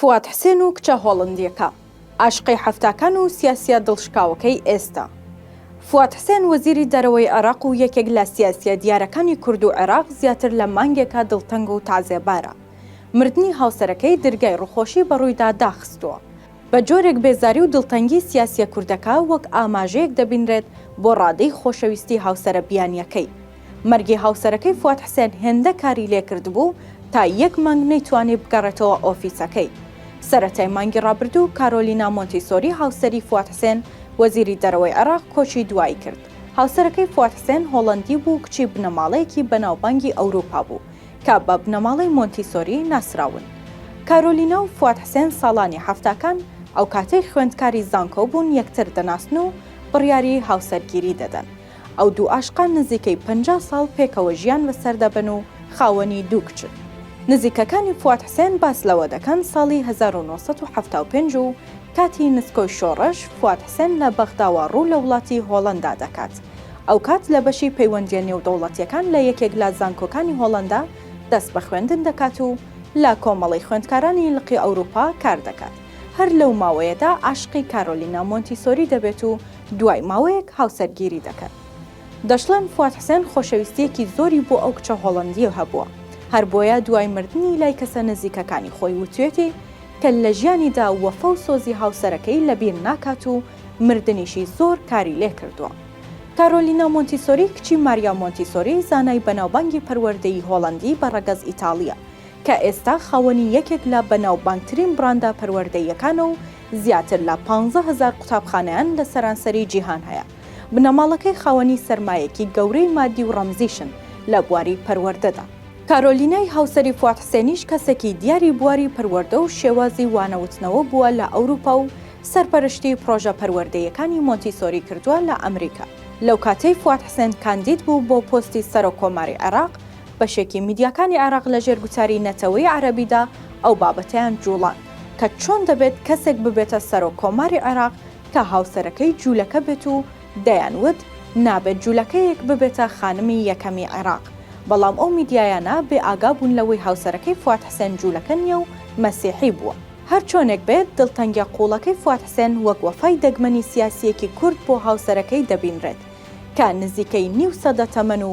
فواد حسێن و کچە هۆڵندیەکە ئاشقی حەفتاکان و سیاسیە دڵشکاوەکەی ئێستا. فواد حسێن وەزیری دەرەوەی عێراق و یەکێک لە سیاسیە دیارەکانی کورد و عێراق زیاتر لە مانگێکە دڵتەنگ و تەعزێبارە. مردنی هاوسەرەکەی درگای ڕوخۆشی بەڕوویدا داخستووە. بە جۆرێک بێزاری و دڵتەنگی سیاسیە کوردەکە وەک ئاماژەیەک دەبینرێت بۆ ڕادەی خۆشەویستی هاوسەرە بیانیەکەی. مەرگی هاوسەرەکەی فواد حسێن هێندە کاری لێکردبوو تا یەک مانگ نەیتوانی بگەڕێتەوە ئۆفیسەکەی. سەرەتای مانگی ڕابردوو کارۆلینا مۆنتیسۆری هاوسەری فواد حسێن وەزیری دەرەوەی عێراق کۆچی دوایی کرد. هاوسەرەکەی فواد حسێن هۆڵەندی بوو کچی بنەماڵەیەکی بەناوبانگی ئەوروپا بوو کە بە بنەماڵەی مۆنتیسۆری ناسراون. کارۆلینا و فواد حسێن ساڵانی حەفتاکان ئەوکاتەی خوێندکاری زانکۆ بوون یەکتر دەناسن و بڕیاری هاوسەرگیری دەدەن. ئەو دوو ئاشقان نزیکەی پەنجا ساڵ پێکەوە ژیان بەسەر دەبەن و خاوەنی دوو کچن. نزیکەکانی فواد حسێن باس لەوە دەکەن ساڵی هەزار و نۆ سەد و حەفتا و پێنج و کاتی نسکۆی شۆڕش فواد حسێن لە بەغداوە ڕوو لە وڵاتی هۆڵەندا دەکات ئەو کات لە بەشی پەیوەندیە نێودەوڵەتیەکان لە یەکێک لە زانکۆکانی هۆڵەندا دەست بە خوێندن دەکات و لە کۆمەڵەی خوێندکارانی لقی ئەوروپا کار دەکات هەر لەو ماوەیەدا عاشقی کارۆلینا مۆنتیسۆری دەبێت و دوای ماوەیەک هاوسەرگیری دەکەن. دەشڵێن فواد حسێن خۆشەویستییەکی زۆری بۆ ئەو کچە هۆڵەندییە هەبووە، هەر بۆیە دوای مردنی لای کەسە نزیکەکانی خۆی وتویەتی کە لە ژیانیدا وەفا و سۆزی هاوسەرەکەی لە بیر ناکات و مردنیشی زۆر کاری لێ کردووە. کارۆلینا مۆنتیسۆری کچی ماریا مۆنتیسۆری زانای بەناوبانگی پەروەردەیی هۆڵەندی بە ڕەگەز ئیتاڵییە کە ئێستا خاوەنی یەکێک لە بەناوبانگترین بڕاندە پەروەردەییەکانە و زیاتر لە پانزە هەزار قوتابخانەیان لە سەرانسەری جیهان هەیە، بنەماڵەکەی خاوەنی سەرمایەیەکی گەورەی ماددی و ڕەمزیشن لە بواری پەروەردەدا. کارۆلینای هاوسەری فواد حسێنیش کەسێکی دیاری بواری پەروەردە و شێوازی وانەوتنەوە بووە لە ئەوروپا و سەرپەرشتی پڕۆژە پەروەردەییەکانی مۆنتیسۆری کردووە لە ئەمریکا. لەو کاتەی فواد حسێن کاندید بوو بۆ پۆستی سەرۆک کۆماری عێراق، بەشێکی میدیاکانی عێراق لەژێر گوتاری نەتەوەی عەرەبیدا ئەو بابەتەیان جووڵاند. کە چۆن دەبێت کەسێک ببێتە سەرۆک کۆماری عێراق کە هاوسەرەکەی جوولەکە بێت و دەیان وت نابێت جوولەکەیەک ببێتە خانمی یەکەمی عێراق بەڵام ئەو میدیایانە بێ ئاگا بوون لەوەی هاوسەرەکەی فواد حسێن جوولەکە نییە و مەسیحی بووە. هەر چۆنێک بێت دڵتەنگیە قوڵەکەی فواد حسێن وەک وەفای دەگمەنی سیاسیەکی کورد بۆ هاوسەرەکەی دەبینرێت کە نزیکەی نیو سەدە تەمەن و